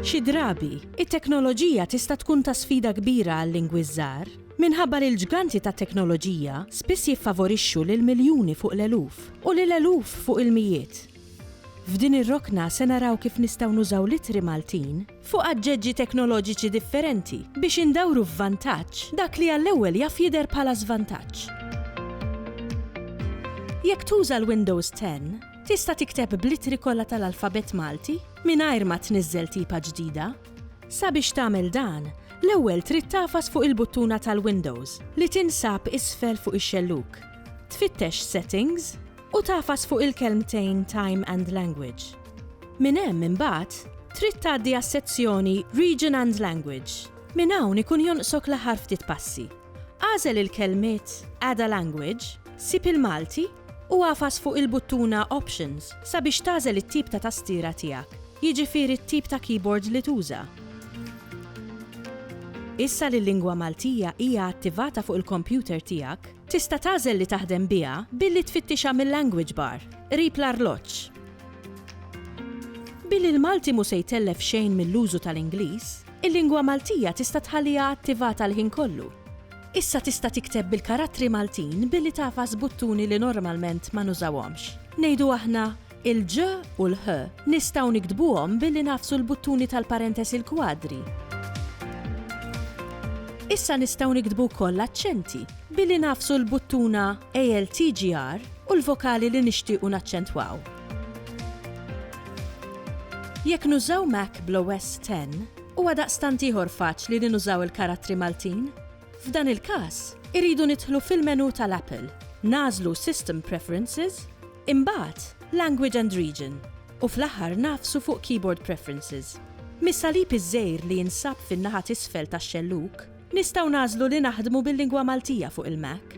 Xi drabi, it-teknoloġija tista' tkun ta' sfida kbira għal-lingwi ż-żgħar, minħabba li l-ġganti tat-teknoloġija spiss jiffavorixxu lil miljuni fuq l-eluf, u lil eluf fuq il-mijiet. F'din ir-rokna se naraw kif nistgħu nużaw l-ittri Maltin fuq aġġeġġi teknoloġiċi differenti biex indawru f'vantaġġ dak li għall-ewwel jaf jidher bħala żvantaġġ. Jekk tuża l-Windows 10, tista' tikteb bl-ittri kollha tal-alfabett Malti mingħajr ma tniżżel tipa ġdida. Sabiex tagħmel dan, l-ewwel trid tagħfas fuq il-buttuna tal-Windows li tinsab isfel fuq ix-xellug. Tfittex Settings. U tagħfas fuq il-kelmtejn Time and Language. Minn hemm imbagħad trid tgħaddi għas-sezzjoni Region and Language. Minn hawn ikun jonqsok l-aħħar ftit passi. Agħżel il-kelmiet Add a Language, sib il-Malti u agħfas fuq il-buttuna Options sabiex tagħżel it-tip ta' tastiera tiegħek, jiġifieri t-tip ta' keyboard li tuża. Issa li l-lingwa Maltija hija attivata fuq il-kompjuter tiegħek, Tista' tagħżel li taħdem biha billi tfittixha mil-language bar, qrib l-arloġġ. Billi l-Malti mhu se jtellef xejn mill-użu tal-Ingliż, il-lingwa Maltija tista' tħalliha attivata l-ħin kollu. Issa tista' tikteb bil-karattri Maltin billi tagħfas buttuni li normalment ma nużawhomx. Ngħidu aħna Il-ġ u l-ħ nistgħu niktbuhom billi nagħfsu l-buttuni tal-parentesi l-kwadri. Issa nistgħu niktbu wkoll l-aċċenti billi nagħfsu l-buttuna ALTGR u l-vokali li nixtiequ naċċentwaw. Jekk nużaw Mac bl-OS X, huwa daqstant ieħor faċli li nużaw il-karattri Maltin. F'dan il-każ, irridu nidħlu fil-menù tal-Apple, nagħżlu System Preferences, Imbagħad, Language and Region, u fl-aħħar ngħafsu fuq Keyboard Preferences. Mis-salib iż-żgħir li jinsab fin-naħa t'isfel tax-xellug, nistgħu nagħżlu li naħdmu bil-lingwa Maltija fuq il-Mac.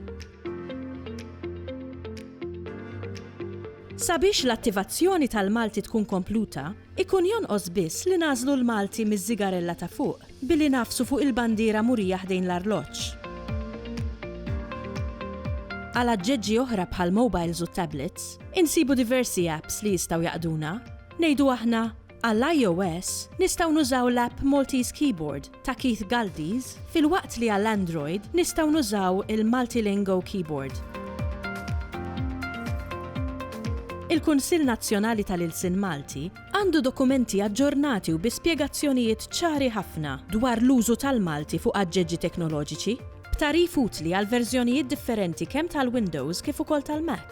Sabiex l-attivazzjoni tal-Malti tkun kompluta, ikun jonqos biss li nagħżlu l-Malti miż-żigarella ta' fuq. Billi ngħaffsu fuq il-bandiera murija ħdejn l-arloġġ. Għal aġġeġġi oħra bħall-mobiles u t-tablets, insibu diversi apps li jistgħu jaqduna. Ngħidu aħna, Għall-IOS, nistgħu nużaw l-app Maltese Keyboard ta' Keith Galdies, filwaqt li għall-Android nistgħu nużaw il-Multilingo Keyboard. Il-Kunsill Nazzjonali tal-Ilsien Malti, Għandu dokumenti aġġornati u bi spjegazzjonijiet ċari ħafna dwar l-użu tal-Malti fuq aġġeġġi teknoloġiċi, b'tagħrif utli għall-verżjonijiet differenti kemm tal-Windows kif ukoll tal-Mac.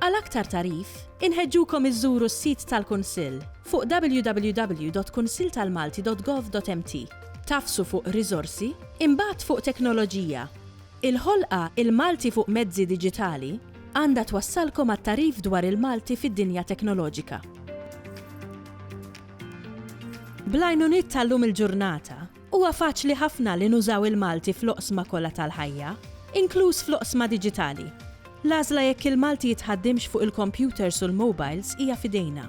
Għal aktar tagħrif, inħeġġukom iżżuru s-sit tal-Kunsill fuq www.kunsilltalmalti.gov.mt, tagħfsu fuq Riżorsi, imbagħad fuq Teknoloġija. Il-ħolqa Il-Malti fuq mezzi diġitali għandha twassalkom għat-tagħrif dwar il-Malti fid-dinja teknoloġika. Bl-għajnuniet tal-lum il-ġurnata, huwa faċli ħafna li nużaw il-Malti fl-oqsma kollha tal-ħajja, inkluż fl-oqsma diġitali. L-għażla jekk il-Malti jitħaddimx fuq il-kompjuters u l-mobiles hija f'idejna.